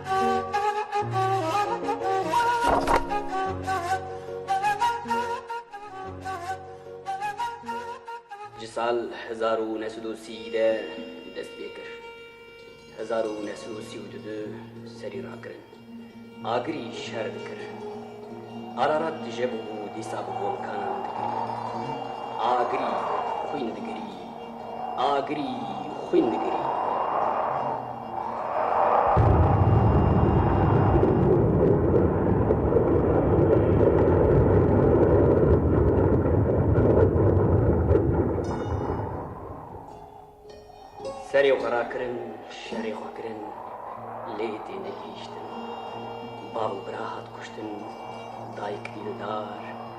Ji sal hezar û neh sed û sî de dest pê kir. Hezar û neh sed û sî û du de serî rakirin. Agirî şer dikir. Ararat tije bûbû dîsa bi volkanan digirî. Agirî xwîn digirî. Agirî xwîn digirî. Serê xwe rakirin, şerê xwe kirin, lê tê negihîştin. Bav û bira hat kuştin, dayik dîn û dar,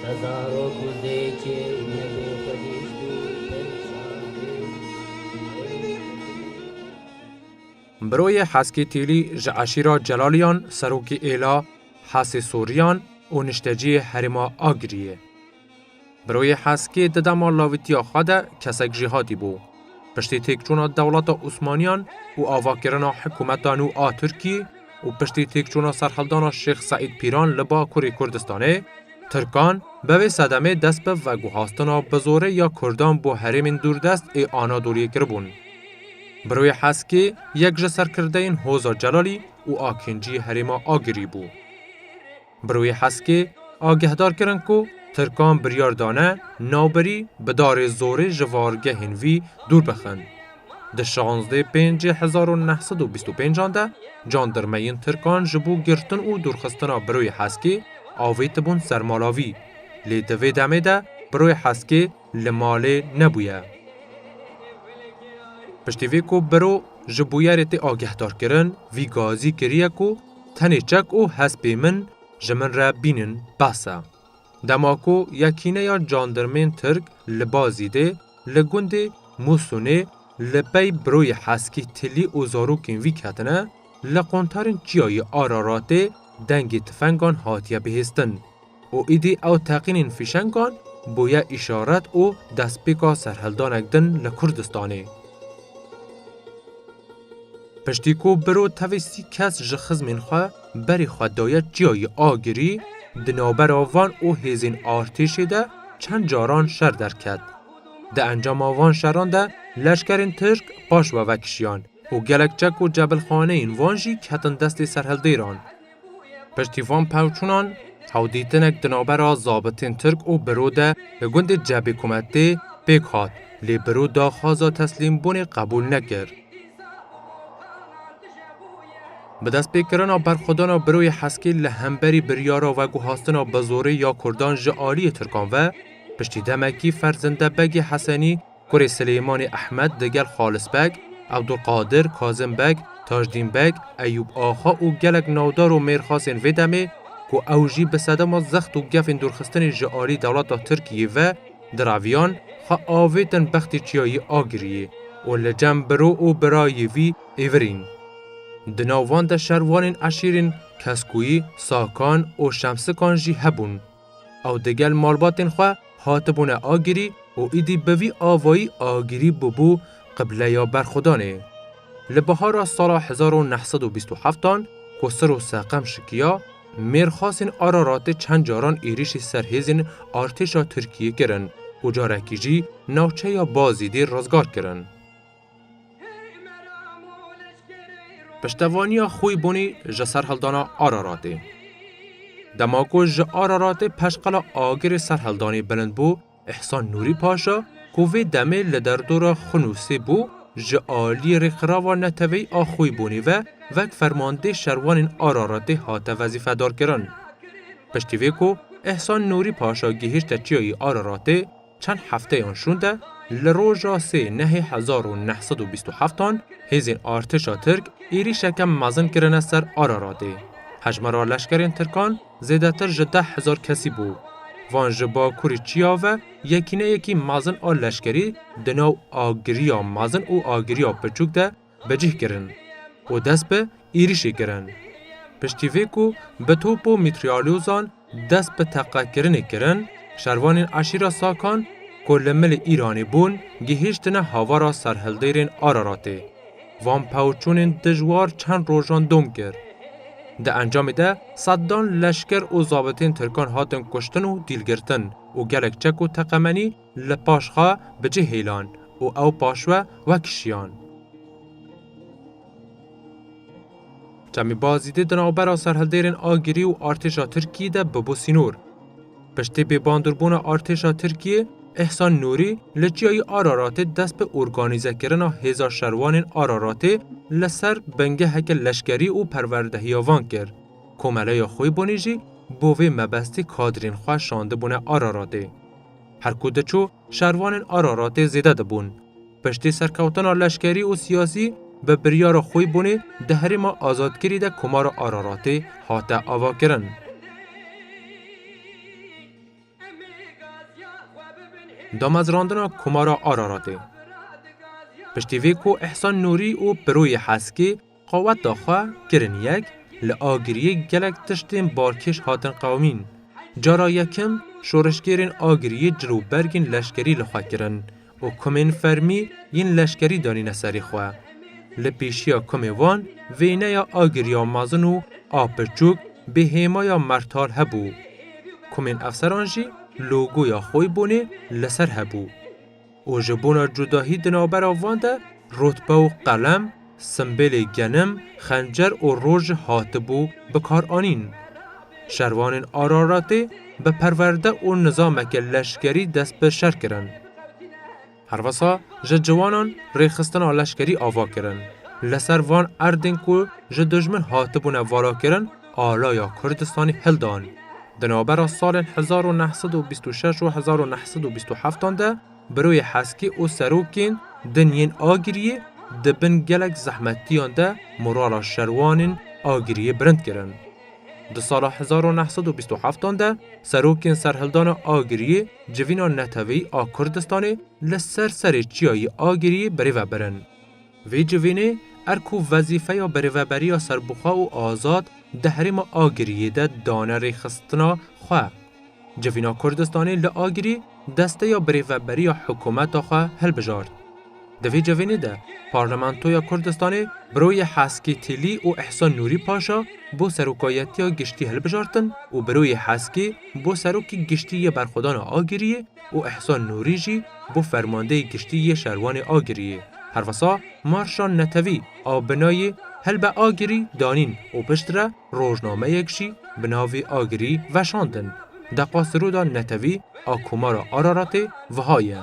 Te zarok û dê çê nebê xwedîst û perîşan bê. Biroyê Heskî Tîlî ji eşîra Celaliyan serokê êla Hesê Soriyan û nişteciyê herêma Agiriyê. Biroyê Heskî di dema lavitiya xwe de kesek jî hatî bo. Piştî têkçûna dewleta Osmaniyan û avakirina hikûmeta nû a Tirkî û piştî têkçûna serhildana Şêx Seîd Pîran li Bakurê Kurdistanê, Tirkan bi vê sedemê dest bi veguhastina bi zorê ya Kurdan bo herêmên dûrdest ê Anadoliyê kiribûn. Bi rûyê heskê yek ji serkirdeyên Hoza Celalî û Akîncî herêma Agirî bû. Bi rûyê Heskê agehdar kirin ku Tirkan biryar dane navberî bi darê zorê ji vargehên vî dûr bixin. Di şazdê pêncê hezar û neh sed û bîst û pênc an de candirmeyên Tirkan ji bo girtin û dûrxistina Birûyê Heskê avêtibûn ser mala vî. Lê di vê demê de Birûyê Heskê Li malê nebûye. Piştî vê ku biro ji bûyerê tê agehdarkirin, vî gazî kiriye ku tenê çek û hespê min ji min re bînin behs e. Dema ku yekîneya candirmên Tirk li ba Zîdê li gundê Mûsûnê li pey biroyê Heskî tilî û zarokên vî ketine, li quntarên çiyayê Araratê dengê tifengan hatiye bihêstin. Û îdî ew teqînên fîşengan bûye îşaret û destpêka serhildanek din li Kurdistanê. Piştî ku biro tevî sî kes ji xizmên xwe berê xwe daye Çiyayê Agirî, di navbera van û hêzên artêşê de çend caran şer derket. Di encama van şeran de leşkerên Tirk paş we vekişiyan û gelek çek û cebilxaneyên van jî ketin destê serhildêran. Piştî van pevçûnan çawdîtinek di navbera zabitên Tirk û biro de li gundê Cebê Kumetê pêk hat lê biro daxwaza teslîmbûnê qebûl nekir. Bi destpêkirina berxwedana biroyê Heskî li hemberî biryara veguhastina bi zorê ya Kurdan ji aliyê Tirkan ve, piştî demekî Ferzinde Begê Hesenî, Kurê Silêmanî Ehmed di gel Xalis Beg, Ebdulqadir, Kazim Beg, Tajdîn Beg, Eyûb Axa û gelek navdar û mêrxasên vê demê ku ew jî bi sedema zext û gefên dûrxistinê ji alî dewleta Tirkiyê ve diraviyan, xwe avêtin bextê Çiyayî Agiriyê û li cem biro û birayê vî êvirîn. Di nav wan de şervanên eşîrên Keskuyî, Sakan û Şemsikan jî hebûn. Ew digel malbatên xwe hatibûne agirî û îdî bi vî avayî agirî bûbû qibleya berxwedanê. Li bihara sala hezar û neh sed û bîst û heftan ku Siro Seqem şikiya, mêrxasên Araratê çend caran êrîşî ser hêzên artêşa Tirkiyê kirin û carekî jî navçeya Bazîdê rizgar kirin. Piştevaniya Xûybûnî ji serhildana Araratê. Dema ku ji Araratê peşqela agirê serhildanê bilind bû, Îhsan Nûrî Paşa ku vê demê li derdora Xunûsê bû, ji aliyê Rêxirava Neteweyî a Xûybûnî ve wek fermandê şerwanên Araratê hate wezîfedarkirin. Piştî vê ku Îhsan Nûrî Paşa gihîşte çiyayê Araratê, Çend hefteyan şûnde li roja sê Nehê hezar û neh sed û bîst û heftan hêzên artêşa Tirk êrîşeke mezin kirine ser Araratê. Hejmara leşkerên Tirkan zêdetir ji deh hezar kesî bû. Van ji bakurî çiya ve yekîneyekî mezin a leşkerî di nav agiriya mezin û agiriya piçûk de Becih kirin û dest bi êrîşê kirin. Piştî vê ku bi top û mîtrîalyozan dest bi teqekirinê kirin, şervanên eşîra Sakan ku li milê Îranê bûn gihîştine havara serhildêrên Araratê. Van pawçûnên dijwar çend rojan dom kir. Di encamê de sedan leşker û zabitên tirkan hatin kuştin û dîlgirtin û gelek çek û teqemenî Li paş xwe bi cih hêlan. Û ew paş we we kişiyan. Çemî Bazîdê di navbera serhildêrên Agirî û artêşa Tirkiyê de bûbû sînor. Piştî bêbandûrbûna artêşa Tirkiyê, Îhsan Nûrî li Çiyayê Araratê dest bi organîzekirina hêza şervanên Araratê li ser bingeheke leşkerî û perwerdehiya van kir. Komeleya Xwîbûnî jî bo vê mebestî kadrên xwe şandibûne Araratê. Her ku diçû, şervanên Araratê zêde dibûn. Piştî serkewtina leşkerî û siyasî, bi biryara xwe bûnê di herêma azadkirî de Komara Araratê hate avakirin. Damezrandina Komara Araratê Piştî vê ku Îhsan Nûrî û Piroyê Heskê, Qaweta xwe kirin yek, li Agiriyê gelek tiştên balkêş hatin qewimîn. Cara yekim şoreşgêrên Agiriyê cil û bergên leşkerî li xwe kirin û komên fermî yên leşkerî danîne serê xwe. Li pêşiya komê wan vêneya Agiriya mezin û a pirçûk bê hêmaya Mertal hebû. Komên efseran jî logoya Xoybûnê li ser hebû. û ji bona cudahî di navbera van de rûtbe û qelem, simbêlê genim, xencer û roj hatibû bikaranîn. Şervanên Araratê bi perwerde û nizameke leşkerî dest bi şer kirin. Herwisa ji ciwanan rêxistina leşkerî ava kirin. Li ser van erdên ku ji dijmin hatibûne valakirin, alaya Kurdistanê hildanî. Di navbera salên hezar û neh sed û bîst û şeş û hezar û neh sed û bîst û heftan de Biroyê Heskî û serokên din yên Agiriyê di bin gelek zehmetiyan de morala şerwanên Agiriyê bilind kirin. Di sala hezar û neh sed û bîst û heftan de serokên serhildana Agiriyê civîna neteweyî a Kurdistanê li ser serê çiyayê Agiriyê birêve birin. Vê civînê er ku wezîfeya berêveberiya serbixwe û azad di herêma Agiriyê de dane rêxistina xwe. Civîna Kurdistanê li Agirî desteya birêveberiya hikûmeta xwe hilbijart. Di vê civînê de Parlamentoya Kurdistanê Biroyê Heskî Tîlî û Îhsan Nûrî Paşa bo Serokayetiya Giştî hilbijartin û Biroyê Heskî bo Serokê Giştî yê Berxwedana Agiriyê û Îhsan Nûrî jî bû Fermandeyê Giştî yê Şervanê Agiriyê. Herwisa marşa netewî a binayê Helbe Agirî danîn û piştre rojnameyek jî bi navê Agirî veşandin. Deqa siroda netewî a Komara Araratê wiha ye.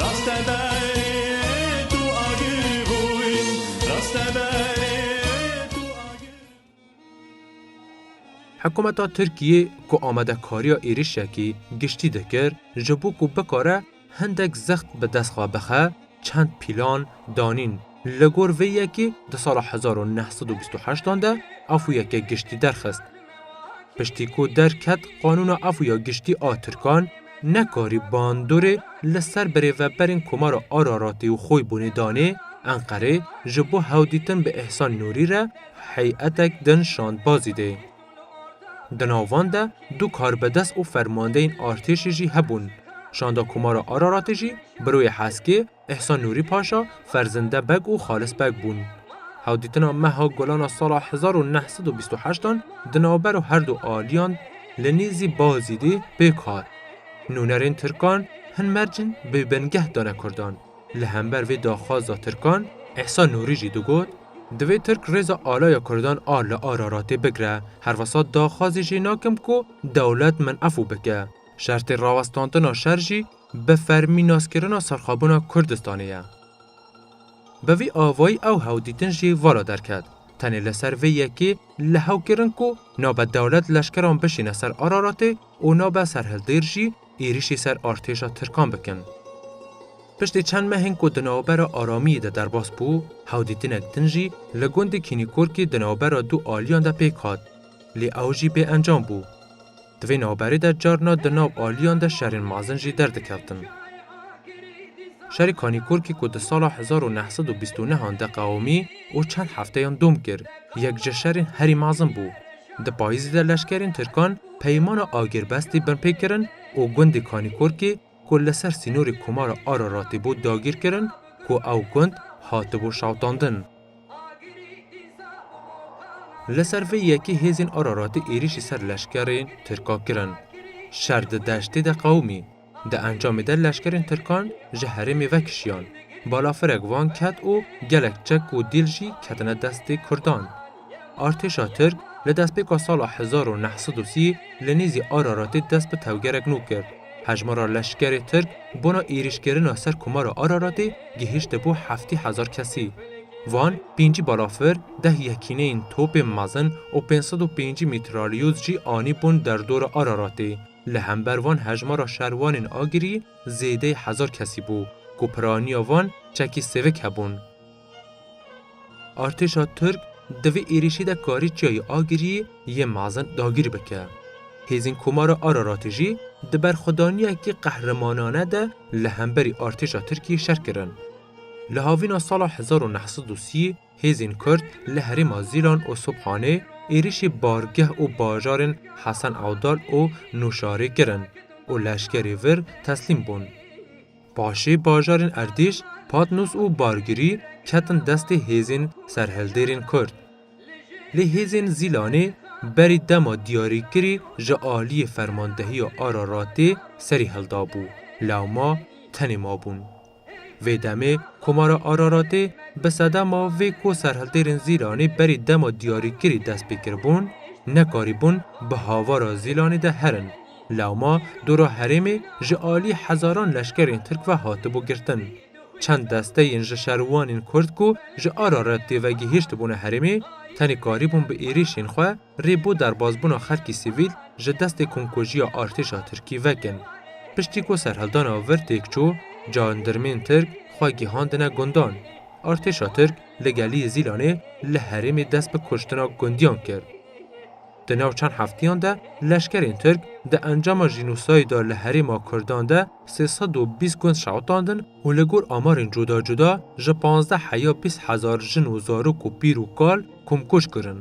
Raste be ê tu agir bûy Raste be ê tu agir Hikûmeta Tirkiyê ku amadekariya êrîşekî giştî dikir ji bo ku bikare hindek zext bi dest xwe bixe, çend pîlan danîn. Li gor vê yekê di sala hezar û neh sed û bîst û heştan de Afûyeke Giştî derxist. Piştî ku derket Qanûna Afûya Giştî a Tirkan nekarî bandorê li ser birêveberên Komara Araratê û Xoybûnê danê, Enqerê ji bo hewdîtin bi Îhsan Nûrî re hey'etek din şand Bazîdê. Di nav van de du karbedest û fermandeyên artêşê jî hebûn. Şanda Komara Araratê jî Biroyê Heskê, Îhsan Nûrî Paşa, Ferzinde Beg û Xalis Beg bûn. Hewdîtina meha gulan a sala hezar û neh sed û bîst û heşt an di navbera her du aliyan li nêzî Bazîdê pêk hat. Nûnerên tirkan hin mercên bê bingeh dane kurdan. Li hember vê daxwaza tirkan Îhsan Nûrî jî digot, Divê tirk rêza alaya kurdan a li Araratê bigre. Herwisa daxwazê jê nakim ku dewlet min efû bike. Şertê rawestandina şer jî Bi fermî naskirina serxwebûna Kurdistanê ye. Bi vî avayî ew hewdîtin jî vala derket. Tenê li ser vê yekê li hew kirin ku nabe dewlet leşkeran bişîne ser Araratê û nabe serhildêr jî êrîşî ser artêşa tirkan bikin. Piştî çend mehên ku di navbera Aramiyê de derbas bû, hewdîtinek din jî li gundê Kînîkorkî di navbera du aliyan de pêk hat. Lê ew jî bêencam bû. Di vê navberê de carna di nav aliyan de şerên mezin jî derdikevtin. Şerê Kanîkurkî ku di sala hezar û neh sed û bîst û neh an de qewimî û çend hefteyan dom kir, yek ji şerên herî mezin bû. Di payîzê de leşkerên tirkan peyimana agirbestî binpê kirin û gundê Kanîkurkî, ku li ser sînorê Komara Araratê bû dagîrkirin ku ew gund hatibû şewitandin. Li ser vê yekê hêzên Araratê êrîşî ser leşkerên Tirka kirin. Şer di deştê de qewimî. Di encamê de leşkerên Tirkan ji herêmê vekişiyan. Balafirek van ket û gelek çek û dîl jî ketine destê Kurdan. Artêşa Tirk li destpêka sala hezar û neh sed û sî li nêzî Araratê dest bi tevgerek nû kir. Hejmara leşkerê Tirk bona êrîşkirina ser komara Araratê gihişte bo heftê hezar kesî. Van pêncî balafir, deh yekîneyên topên mezin û pênc sed û pêncî mîtralyoz jî anî bûn derdora Araratê. Li hember van hejmara şervanên agirî zêdeyê hezar kesî bû ku piraniya van çekî sêvik hebûn. Artêşa Tirk di vê êrîşê de karî Çiyayê Agiriyê yê mezin dagîr bike. Hêzên Komara Araratê jî di berxwedaniyekî qehremanane de li hemberî artêşa Tirkiyê şer kirin. Li havîna sala hezar û neh sed û sî hêzên Kurd li herêma Zîlan û Subhanê êrîşê bargeh û bajarên Hesen Ewdal û Nûşarê kirin û leşkerê vir teslîm bûn. Paşê bajarên Erdîş, Patnûs û Bargirî ketin destê hêzên serhildêrên Kurd. Lê hêzên Zîlanê berî dema diyarîkirî ji aliyê fermandehiya Araratê serî hildabû, lewma tenê mabûn. Vê demê Komara Araratê bi sedema vê ku serhildêrên Zîlanê berî dema diyarîkirî dest pê kiribûn, nekarîbûn bi havara Zîlanê de herin. Lewma dora herêmê ji alî hezaran leşkerên Tirk ve hatibû girtin. Çend desteyên ji şerûwanên Kurd ku ji Ararat dê ve gihîştibûne herêmê, tenê karîbûn bi êrîşên xwe rê bo derbasbûna xelkî sivîl ji destê komkujiya artêşa Tirkî vekin. Piştî ku serhildana vir têk çû, jandirmên Tirk xwe gihandine gundan. Artêşa Tirk li Gelîyê Zîlanê li herêmê dest bi kuştina gundiyan kir. Di nav çend hefteyan de leşkerên Tirk di encama jînosayda li herêma Kurdan de sê sed û bîst gund şewitandin û li gor amarên cuda cuda ji pazdeh heya bîst hezar jin û zarok û pîr û kal komkuj kirin.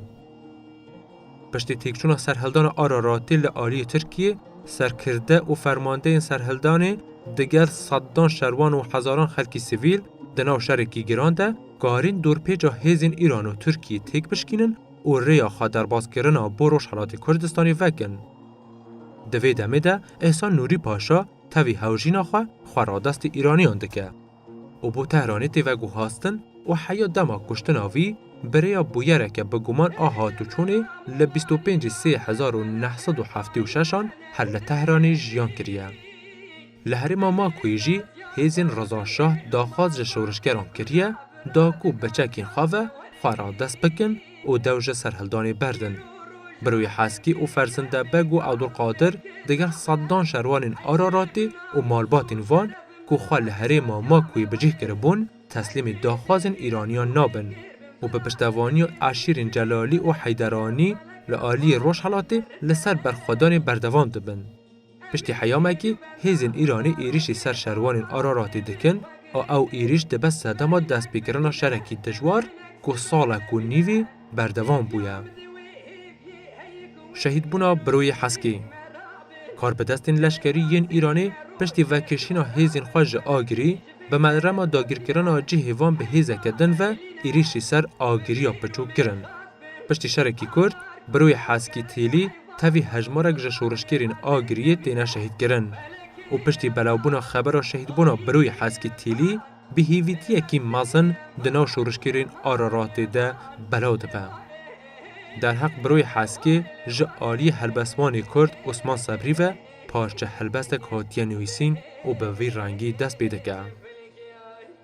Piştî têkçûna serhildana Araratê li aliyê Tirkiyê, serkirde û fermandeyên serhildanê digel sedan şerwan û hezaran xelkî sivîl di nav şerekî giran de karîn dorpêca hêzên Îran û Tirkiyê têk bişkînin û rêya xwe derbaskirina bo Rojhelatê Kurdistanê vekin. Di vê demê de Îhsan Nûrî Paşa tevî hewjîna xwe xwe radestê Îranîyan dike û bo Tehranê tê veguhastin û heya dema kuştina vî bi rêya bûyereke bi guman a hatûçûnê li bîst û pêncî sê hezar û neh sed û heftê û şeş an her li Tehranê jiyan kiriye. Li herêma Makoyê jî hêzên Reza Şah daxwaz ji şoreşgeran kiriye da ku bi çekên xwe ve xwe radest bikin û dew ji serhildanê berdin. Birûyê Heskî û Ferzinde Beg û Ewdulqadir digel sedan şervanên Araratê û malbatên wan ku xwe li herêma Makoyê bi cih kiribûn teslîmê daxwazên Îraniyan nabin û bi piştevaniya eşîrên Celalî û Heyderanî li aliyê Rojhelatê li ser berxwedanê berdewam dibin. Piştî heyamekî hêzên Îranê êrîşî ser şerwanên Araratê dikin a ew êrîş dibe sedema destpêkirina şerekî dijwar ku salek û nîvê berdewam bûye. Şehîdbûna Biroyê Heskê Karbidestên leşkerî yên Îranê piştî vekişîna hêzên xwe ji Agirî bi merema dagirkirina cihê wan bi hêzeke din ve êrîşî ser Agiriya Piçûk kirin. Piştî şerekî kurt, Biroyê Heskî Têlî Tevî hejmarek ji şorişgêrên Agiriyê têne şehîdkirin û piştî belawbûna xebera şehîdbûna Biroyê Heskî Tîlî bi hêvîtiyekî mezin di nav şorişgêrên Araratê de belaw dibe. Derheq Biroyê Heskê ji aliyê helbestvanê Kurd Osman Sebrî ve parçe helbestek hatiye nivîsîn û bi vî rengî dest pê dike.